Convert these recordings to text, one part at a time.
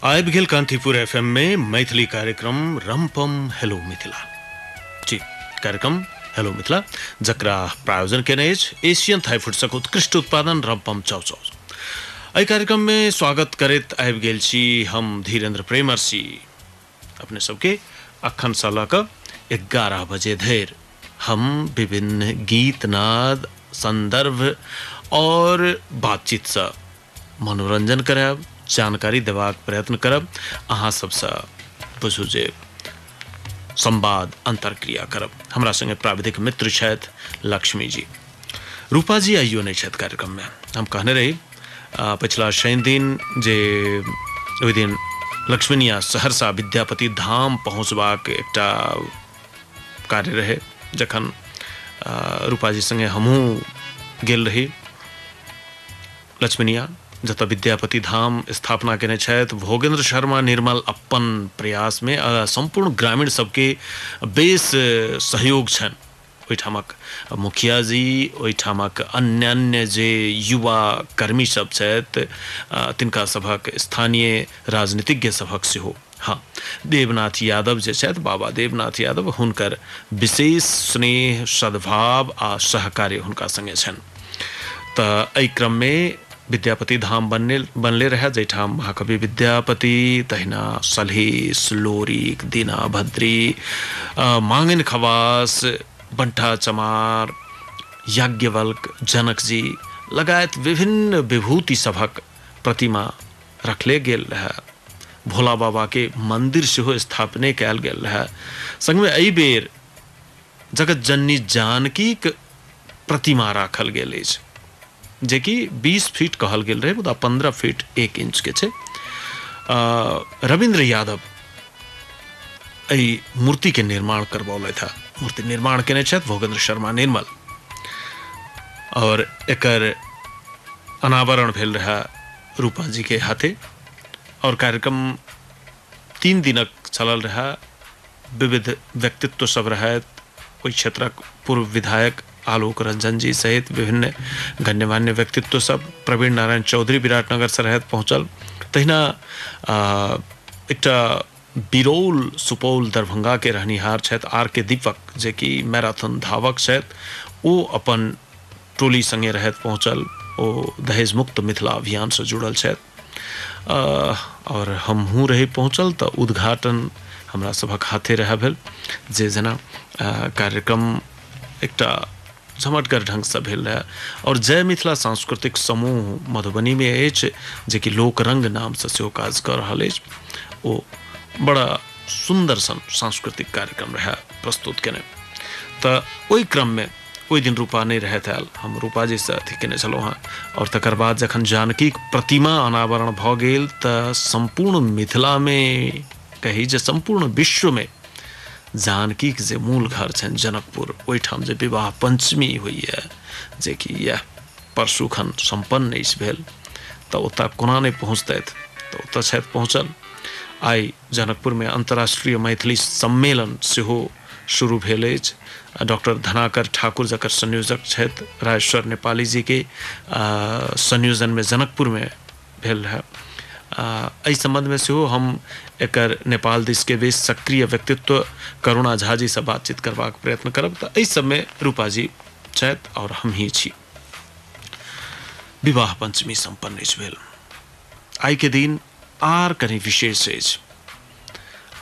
आयब गेल कांतिपुर एफ में मैथिली कार्यक्रम रमपम हेलो मिथिला जी कार्यक्रम हेलो मिथिला जकरा प्रायोजन केने अछि एशियन थाई फूड्सक उत्कृष्ट उत्पादन रमपम चाउचाउ एहि कार्यक्रम में स्वागत करैत आबि गेल छी हम धीरेन्द्र प्रेमर सिंह अपने सबके अखन से लऽ कऽ एगारह बजे धरि हम विभिन्न गीत नाद संदर्भ और बातचीत से मनोरंजन करायब जानकारी देबाक प्रयत्न करब अहाँ सबसँ बुझू जे संवाद अंतरक्रिया करब हमरा संगे प्राविधिक मित्र छथि लक्ष्मी जी रूपा जी आइयो नहीं छथि कार्यक्रम में हम कहने रही आ, पिछला शनि दिन जे ओहि दिन लक्ष्मीनिया सहरसा विद्यापति धाम पहुँचबाक एकटा कार्य रहे जखन आ, रूपा जी संगे हमहूँ गेल रही लक्ष्मीनिया जतऽ विद्यापति धाम स्थापना केने छथि भोगेंद्र शर्मा निर्मल अपन प्रयासमे आ, सम्पूर्ण ग्रामीण सबके बेस अ, सहयोग छनि ओहिठामक मुखिया जी ओहिठामक अन्यान्य जे युवा कर्मी सभ छथि तिनका सभक स्थानीय राजनीतिज्ञ सभक सेहो हँ देवनाथ यादव जे छथि बाबा देवनाथ यादव हुनकर विशेष स्नेह सद्भाव आ सहकार्य हुनका संगे छनि तऽ एहि क्रममे विद्यापति धाम बनने बनले रहए जाहिठाम महाकवि विद्यापति तहिना सलहेश लोरिक दीना भद्री मांगन खवास बंठा चमार याज्ञवल्क जनकजी लगायत विभिन्न विभूति सभक प्रतिमा रखले गेल रहए भोला बाबाके मन्दिर सेहो स्थापने कयल गेल रहए सङ्गमे एहि बेर जगतजननी जानकीक प्रतिमा राखल गेल अछि जेकि बीस फीट कहल गेल रहै मुदा पन्द्रह फीट एक इंचके छै रविन्द्र यादव एहि मूर्तिके निर्माण करबौलथि हँ मूर्ति निर्माण कयने छथि भोगेन्द्र शर्मा निर्मल आओर एकर अनावरण भेल रहए रूपाजीके हाथे आओर कार्यक्रम तीन दिनक चलल रहए। विविध व्यक्तित्व सभ रहैथ। ओहि क्षेत्रक पूर्व विधायक आलोक रंजन जी सहित विभिन्न गण्यमान्य व्यक्तित्व सभ प्रवीण नारायण चौधरी विराटनगर सँ रहैथ पहुँचल। तहिना एकटा बिरौल सुपौल दरभंगा के रहनिहार छैथ आर के दीपक जे कि मैराथन धावक छैथ ओ अपन टोली संगे रहैथ पहुँचल। ओ दहेज मुक्त मिथिला अभियान सँ जुड़ल छैथ। अ, और हमहूँ रही पहुँचल तऽ उद्घाटन हमरा सभक हाथे रहए भेल जे जेना अ, कार्यक्रम एकटा झमटगर ढङ्गसँ भेल रहए आओर जय मिथिला सांस्कृतिक समूह मधुबनीमे अछि जेकि लोकरङ्ग नामसँ सेहो काज कऽ रहल अछि ओ बड़ा सुन्दर सन सांस्कृतिक कार्यक्रम रहए प्रस्तुत केने तऽ ओहि क्रममे ओहि दिन रूपा नहि रहैत आयल हम रूपाजीसँ अथी केने छलहुँ हेँ आओर तकर बाद जखन जानकीक प्रतिमा अनावरण भऽ गेल तऽ सम्पूर्ण मिथिलामे कही जे सम्पूर्ण विश्वमे जानकीक जे मूल घर छनि जनकपुर ओहिठाम जे विवाह पञ्चमी होइए जेकि इएह परसुखन सम्पन्न अछि भेल तऽ ओतय कोना नहि पहुँचतथि तऽ ओतय छथि पहुँचल आइ जनकपुरमे अन्तर्राष्ट्रीय मैथिली सम्मेलन सेहो शुरू भेल अछि आ डॉक्टर धनाकर ठाकुर जकर संयोजक छथि राजेश्वर नेपाली जी के संयोजन में जनकपुर में भेल रहे एहि संबंध में सेहो हम एकर नेपाल दिस के बेस सक्रिय व्यक्तित्व करुणा झा जी से बातचीत करबाक प्रयत्न करब तऽ एहि सब में रूपा जी छथि और हम ही छी विवाह पंचमी संपन्न अछि भेल आइ के दिन आर कनी विशेष अछि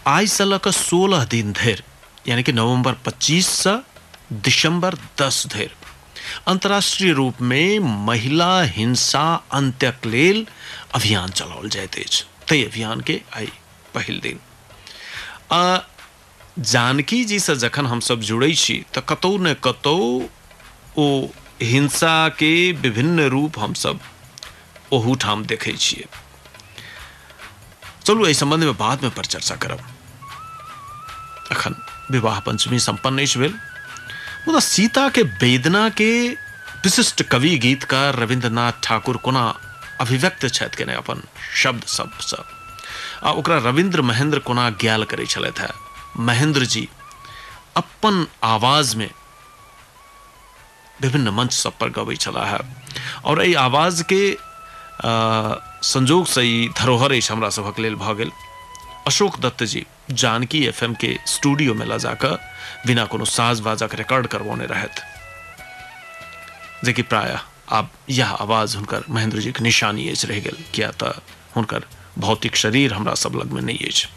आइ से लऽ कऽ सोलह दिन धरि यानी कि नवंबर 25 से दिसंबर 10 धरि अंतर्राष्ट्रीय रूप में महिला हिंसा अंत्यक लेल अभियान चलाओल जाइत अछि ताहि अभियान के आइ पहिल दिन आ जानकी जी से जखन हमसब जुड़ै छी तऽ कतौ ने कतौ ओ हिंसा के विभिन्न रूप हमसब ओहूठाम देखै छियै चलू एहि संबंध में बाद में पर चर्चा करब अखन विवाह पंचमी संपन्न अछि भेल मुदा सीता के वेदना के विशिष्ट कवि गीतकार रविंद्रनाथ ठाकुर कोना अभिव्यक्त छथि केने अपन शब्द सबसँ आ ओकरा रविंद्र महेंद्र कोना ग्याल करै छलथि है महेंद्र जी अपन आवाज में विभिन्न मंच सब पर गबै छलाह और एहि आवाज के संजोग से ई धरोहर अछि हमरा सभक लेल भऽ गेल अशोक दत्त जी जानकी एफ एम के स्टूडियो में लऽ जाकऽ बिना कोनो साज बाजक रिकॉर्ड करवौने रहथि जेकि प्रायः आब यह आवाज हुनकर महेंद्र जी के निशानी अछि रह गेल किया तऽ हुनकर भौतिक शरीर हमरा सब लग में नहीं अछि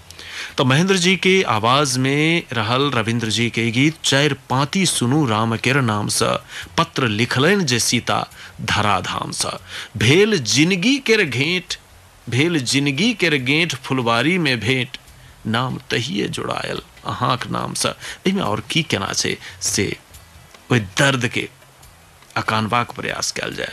तो महेंद्र जी के आवाज में रहल रविंद्र जी के गीत चार पाती सुनू राम केर नाम से पत्र लिखलन जे सीता धराधाम से भेल जिंदगी केर घेंट भेल जिंदगी केर गेंट फुलवारी में भेंट नाम तहिए जुड़ायल अहाँक नाम से एहिमे और की केना छै से ओहि दर्द के अकानबाक प्रयास कयल जाय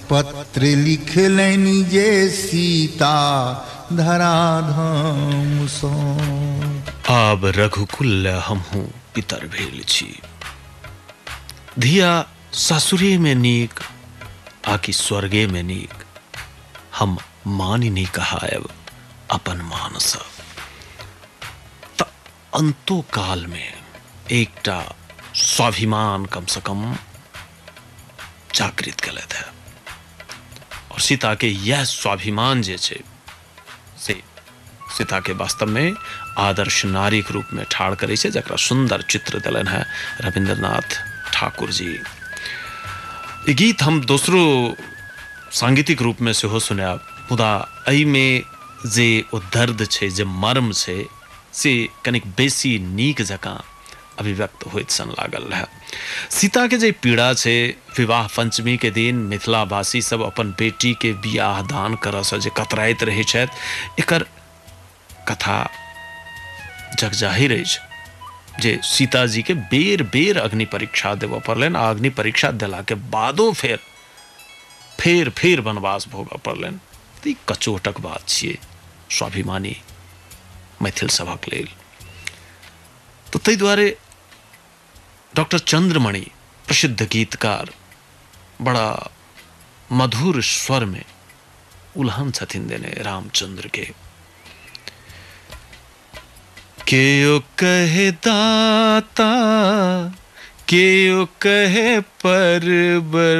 पत्र लिखलनि जे सीता धराधाम सँ आब रघुकुल हमहूँ पितर भेल छी धिया ससुरे में नीक आकि स्वर्गे में नीक हम मानि नहीं कहायब अपन मानसँ अन्तो काल मे एकटा स्वाभिमान कम से कम जागृत केलथि है और सीता के यह स्वाभिमान जे छै से सीता के वास्तव में आदर्श नारी के रूप में ठाड़ करे छै जकरा सुंदर चित्र दिलन है रविंद्रनाथ ठाकुर जी ई गीत हम दोसरो सांगीतिक रूप में सेहो सुनायब मुदा एहिमे जे ओ दर्द छै जे मर्म छै से कनिक बेसी नीक जकाँ अभिव्यक्त होइत सन लागल रहए सीताके जे पीड़ा छै विवाह पञ्चमीके दिन मिथिलावासी सब अपन बेटीके बियाह दान करऽसँ जे कतराइत रहै छथि एकर कथा जगजाहिर अछि जे सीताजीके बेर बेर अग्नि परीक्षा देबऽ पड़लनि आ अग्नि परीक्षा देलाके बादो फेर फेर फेर वनवास भोगऽ पड़लनि तऽ ई कचोटक बात छियै स्वाभिमानी मैथिल सभक लेल तऽ ताहि दुआरे डॉक्टर चंद्रमणि प्रसिद्ध गीतकार बड़ा मधुर स्वर में उल्हन छथिन देने रामचंद्र के के ओ कहे दाता के ओ कहे परबर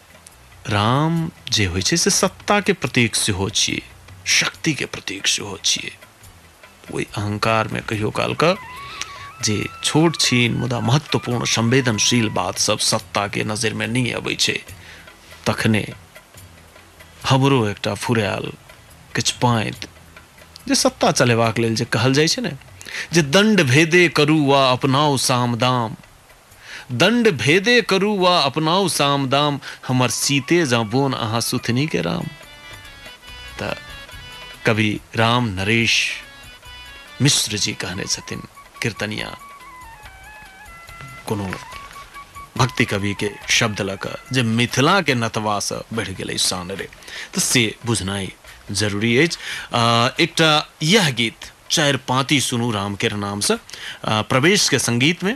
राम जे होइ छै से सत्ताके प्रतीक सेहो छियै शक्तिके प्रतीक सेहो छियै ओहि अहंकारमे कहियो कालके जे छोट छीन मुदा महत्वपूर्ण संवेदनशील बात सब सत्ताके नजरिमे नहि अबै छै तखने हमरो एकटा फुरायल किछु पाँति जे सत्ता चलेबाक लेल जे कहल जाइ छै ने जे दण्ड भेदे करू वा अपनाउ सामदाम दंड भेदे करू वा अपनाउ साम दाम हमर सीते जँ बोन अहाँ सुथनी के राम। त कवि राम नरेश मिश्र जी कहने छथिन कीर्तनिया कोनो भक्ति कवि के शब्द ल क जे मिथिला के नतवा से बढ़ गेलै शान रे त से बुझनाइ जरूरी अछि आ, एकटा यह गीत चारि पाँति सुनू रामकेर नाम से आ, प्रवेश के संगीत में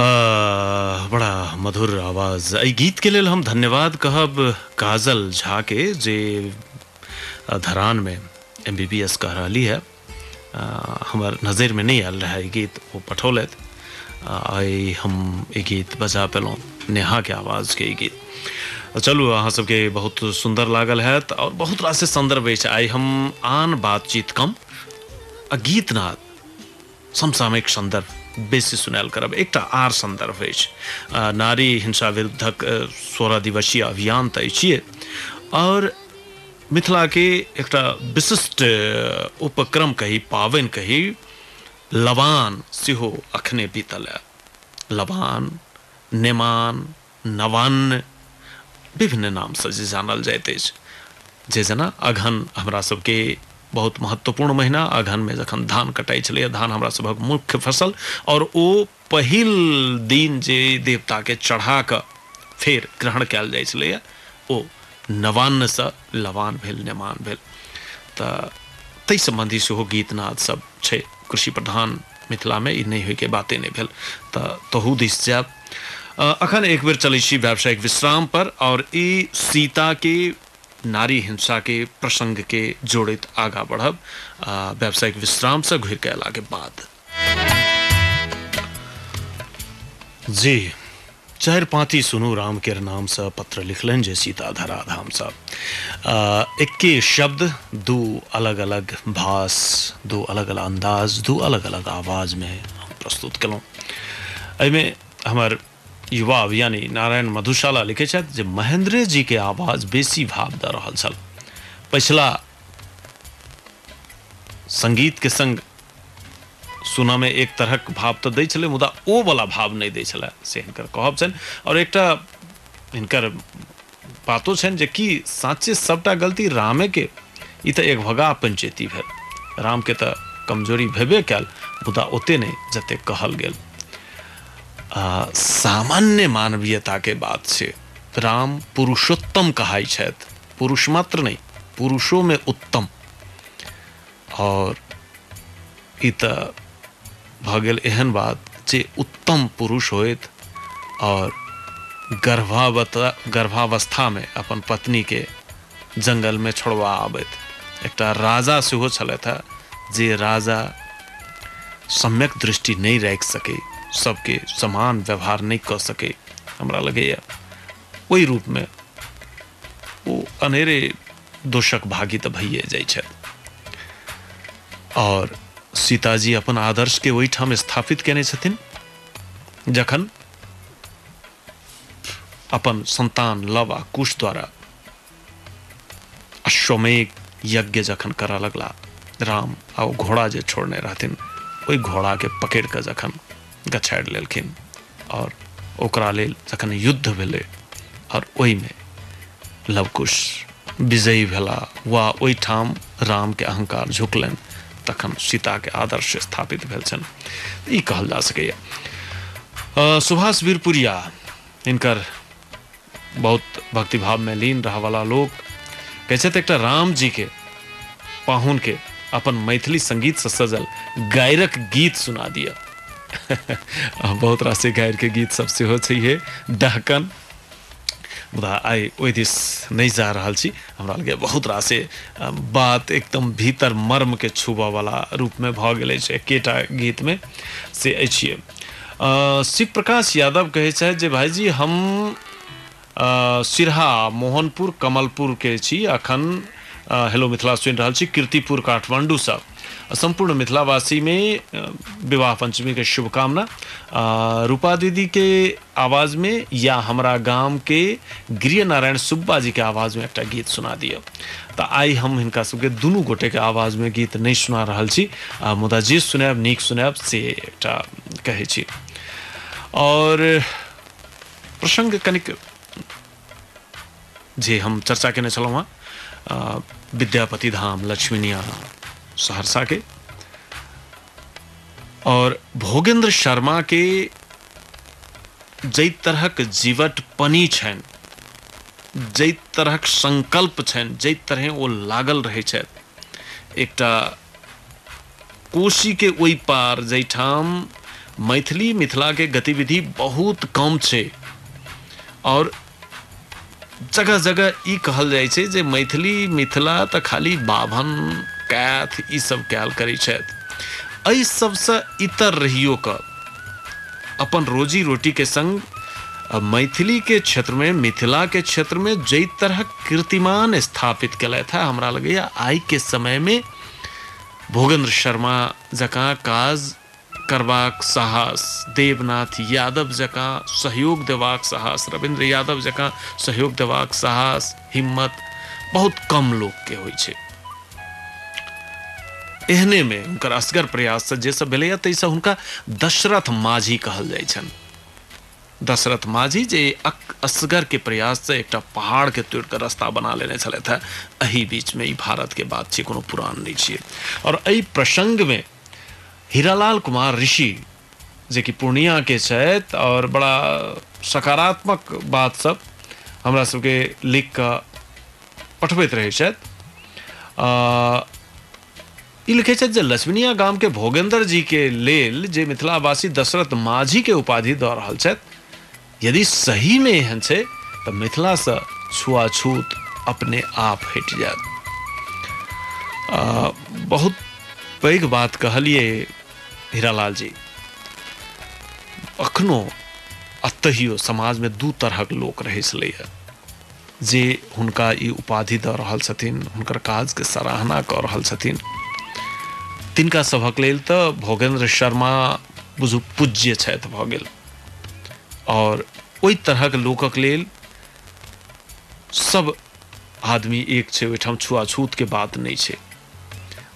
आ, बड़ा मधुर आवाज एहि गीत के लेल हम धन्यवाद कहब काजल झा के जे अ, धरान में एम बी बी एस कह रही है आ, हमर नजर में नहीं आयल रहे ई गीत वो पठौलत आ, आइ हम ई गीत बजा पेलहुँ नेहा के आवाज के ई गीत आ, चलू अहाँ सबके बहुत सुंदर लागल हैत और बहुत रास संदर्भ अछि आइ हम आन बातचीत कम आ गीतनाद समसामयिक सन्दर्भ बेसी सुनायल करब एकटा आर सन्दर्भ अछि अ, नारी हिंसा विरुद्धक अ, सोलह दिवसीय अभियान तऽ अछिए आओर मिथिलाके एकटा विशिष्ट अ, उपक्रम कही पावनि कही लबान सेहो अखने बीतल है लबान नेमान नवान्न विभिन्न नामसँ जे जानल जाइत अछि जे जेना अगहन हमरा सबके बहुत महत्वपूर्ण महीना अगहनमे जखन धान कटाइ छलैए धान हमरा सभक मुख्य फसल आओर ओ पहिल दिन जे देवताके चढ़ा कऽ फेर ग्रहण कयल जाइ छलैए ओ नवान्नसँ लवान भेल नेमान भेल तऽ ताहि सम्बन्धी सेहो गीत नादसभ छै कृषि प्रधान मिथिला में ई नहि होय के बाते नहि भेल तऽ तहू दिस जायब अ, अखन एक बेर चलै छी व्यावसायिक विश्राम पर और ई सीता के नारी हिंसा के प्रसंग के जोड़ैत आगा बढ़ब अ, व्यावसायिक विश्राम से घुर के अयला के बाद जी चारि पाँति सुनू राम केर नाम सँ पत्र लिखलनि जे सीता धरा धाम सँ एक्के शब्द दू अलग अलग भास दू अलग अलग अन्दाज दू अलग अलग आवाज मे हम प्रस्तुत केलहुँ एहिमे हमर युवा यानी नारायण मधुशाला लिखै छथि जे महेंद्रे जी के आवाज बेसी भाव दऽ रहल छल पछिला संगीत के संग सुनऽमे एक तरहक भाव तऽ दै छलै मुदा ओ वला भाव नहि दै छलै से हिनकर कहब छनि आओर एकटा हिनकर बातो छनि जे कि साँचे सभटा गलती रामेके ई तऽ एक भगा पंचेती भेल रामके तऽ कमजोरी भेबे कयल मुदा ओते नहि जते कहल गेल आ, सामान्य मानवीयताके बात छै राम पुरुषोत्तम कहाइ छथि पुरुष मात्र नहि पुरुषोमे उत्तम और ई त भ गेल एहन बात जे उत्तम पुरुष होइत और गर्भावता गर्भावस्था में अपन पत्नी के जंगल में छोड़वा आबैत एकटा राजा सेहो छलथि है जे राजा सम्यक दृष्टि नहीं राखि सके सबके समान व्यवहार नहीं क सके हमरा लगैया ओहि रूप में ओ अनेरे दोषक भागी तऽ भइए जाइ छथि आओर सीताजी अपन आदर्शके ओहिठाम स्थापित केने छथिन जखन अपन संतान लव आ कुश द्वारा अश्वमेघ यज्ञ जखन करऽ लगला राम आ ओ घोड़ा जे छोड़ने रहथिन ओहि घोड़ाके पकड़ि कऽ जखन गछाड़ि लेलखिन आओर ओकरा लेल जखन युद्ध भेलै आओर ओहिमे लवकुश विजयी भेला वा ओहिठाम रामके अहंकार झुकलनि तखन सीताके आदर्श स्थापित भेल छनि ई कहल जा सकैए सुभाष वीरपुरिया इनकर बहुत भक्तिभाव में लीन रह वाला लोग कहै तऽ एकटा राम जी के पाहुन के अपन मैथिली संगीत से सजल गायरक गीत सुना दिया आ बहुत रास गायर के गीत सब सेहो छै हे डहकन मुदा आइ ओहि दिस नहि जा रहल छी हमरा लगे बहुत रासे अ, बात एकदम भीतर मर्मके छूबऽवला रूपमे भऽ गेल अछि एकेटा गीतमे से अछि शिव प्रकाश यादव कहे छथि जे भाईजी हम सिरहा मोहनपुर कमलपुर के छी अखन हेलो मिथिला सुनि रहल छी कीर्तिपुर काठमांडू से सम्पूर्ण मिथिलावासी में विवाह पंचमी के शुभकामना रूपा दीदी के आवाज मे या हमरा गाम के गृह नारायण सुब्बा जी के आवाज मे एकटा गीत सुना दिअ तऽ आइ हम हिनका सबके दुनू गोटे के आवाज मे गीत नहि सुना रहल छी आ मुदा जे सुनायब नीक सुनायब से एकटा कहै छी और प्रसंग कनिक जे हम चर्चा केने छलहुँ हँ अ, विद्यापति धाम लक्ष्मीनिया सहरसा के और भोगेंद्र शर्मा के जै तरहक जीवट पनी छैन जै तरहक संकल्प छैन जै तरहे ओ लागल रहै छैथ एकटा कोशी के ओइ पार जैठाम मैथिली मिथिला के गतिविधि बहुत कम छै और जगह जगह ई कहल जाइ छै जे मैथिली मिथिला तऽ खाली बाभन कैथ ई सब कयल करै छथि एहि सबसँ इतर रहियो कऽ अपन रोजी रोटी के संग अ, मैथिली के क्षेत्र में मिथिला के क्षेत्र में जई तरह कीर्तिमान स्थापित कयलथि है हमरा लगैया आइ के समय में भोगेंद्र शर्मा जकाँ काज करबाक साहस देवनाथ यादव जकाँ सहयोग देबाक साहस रविन्द्र यादव जकाँ सहयोग देबाक साहस हिम्मत बहुत कम लोकके होइ छै एहनेमे हुनकर असगर प्रयाससँ जे सब भेलैए ताहिसँ हुनका दशरथ माझी कहल जाइ छनि दशरथ माझी जे अक- असगरके प्रयाससँ एकटा पहाड़के तोड़ि कऽ रस्ता बना लेने छलथि हेँ एहि बीचमे ई भारतके बात छियै कोनो पुरान नहि छियै आओर एहि प्रसङ्गमे हीरालाल कुमार ऋषि जे कि पूर्णियाके छथि आओर बड़ा सकारात्मक बातसभ हमरा सभके लिख कऽ पठबैत रहै छथि आ, ई लिखै छथि जे लक्ष्मीनिया गामके भोगेन्द्र जीके लेल जे मिथिलावासी दशरथ माझीके उपाधि दऽ रहल छथि यदि सही में एहन छै तऽ मिथिला से छुआछूत अपने आप हटि जायत आ, बहुत पैघ बात कहलिए हीरालाल जी अखनो अतहियो समाज में दू तरहक लोक रहै छलैए जे हुनका ई उपाधि दऽ रहल छथिन हुनकर काज के सराहना कऽ रहल छथिन तिनका सभक लेल तऽ भोगेन्द्र शर्मा बुझू पूज्य छथि भऽ गेल और ओहि तरहक लोकक लेल सब आदमी एक छै ओहिठाम छुआछूत के बात नहि छै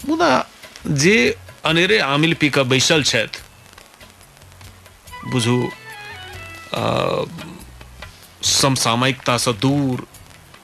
मुदा जे अनेरे आमिल पी कऽ बैसल छथि बुझू समसामयिकतासँ दूर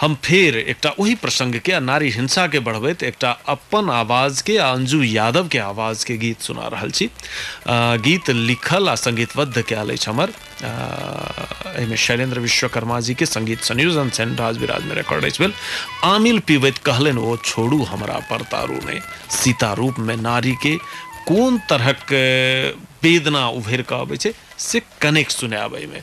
हम फेर एकटा ओहि प्रसंग के आ नारी हिंसा के बढ़बैत एकटा अप्पन आवाज के आ अंजू यादव के आवाज के गीत सुना रहल छी। अ, गीत लिखल आ संगीतबद्ध कयल अछि हमर। अ, एहि में शैलेंद्र विश्वकर्मा जी के संगीत संयोजन छनि राज विराज में रिकॉर्ड अछि भेल। आमिल पीबैत कहलनि ओ छोड़ू हमरा पर दारू ने। सीता रूप में नारी के कोन तरहक अ, वेदना उभरि कऽ अबै छै से कनेक सुनायब एहि में।